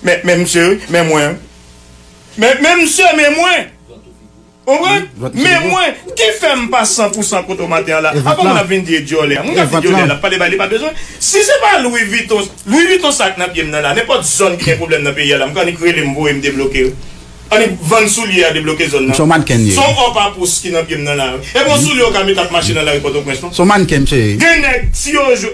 Men msye wi, men mwen wi. Men men msye, men mwen. Ou konprann? Men mwen. Ki fè m pa san pou san kote w maten an la? Apre moun ap vin di e dyòlè an. Moun kap di dyòlè an la pale ba li pa bezwen. Si se pa Louis Vuitton, Louis Vuitton sa k nan pye m nan la, nenpòt zòn ki gen pwoblèm nan peyi a la, m k annik rele m voye m debloke yo. Annik vann soulye a debloke zòn nan. Son mannken m ye. Son or papouss ki nan pye m nan la wi. Epi yon soulye w ka met ap mache nan lari Pòtoprens non. Son mannken msye ye. Gen nèg si yo jwe.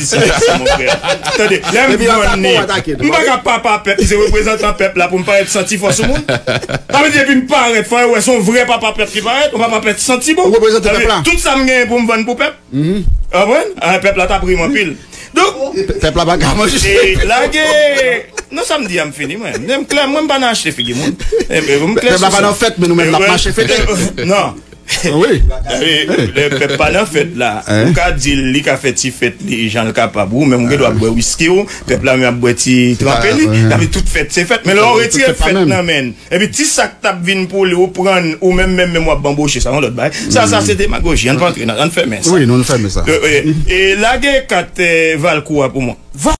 Se pa sa mon frère. Tande, lè m vann ni, m pa ka papa pèp, m se reprezantan pèp la pou m parèt santi fò sou moun. Sa vle di depi m parèt fò yo wè son vrè papa pèp ki parèt, on papa pèp santi bon. Ou reprezante pèp la. Tout sa m genyen pou m vann pou pèp. Ou konprann? Ah pèp la tap ri m anpil. Donk. Pèp la paka manje. Lage, non sa m di a m fini mwen. Mwen m klè, mwen m pa nan achte figi moun. Pèp la pa nan fèt men nou menm nap mache fete. Non. Lè pèp pa nan fèt la, ou ka di l, li ka fè ti fèt li jan l kapab, ou menm ou gen dwa ap bwè wiski w, pèp la menm ap bwè ti tranpe li, sa vle tout fèt se fèt, men lè ou retire fèt nan men l, epi ti sa k t ap vin pou li ou pran l, ou menm menm menm w ap banboche, sa yon lòt bagay, sa sa se demagoji, ann pa antre nan, ann fèmen sa. E lage kat Valcourt a pou mwen.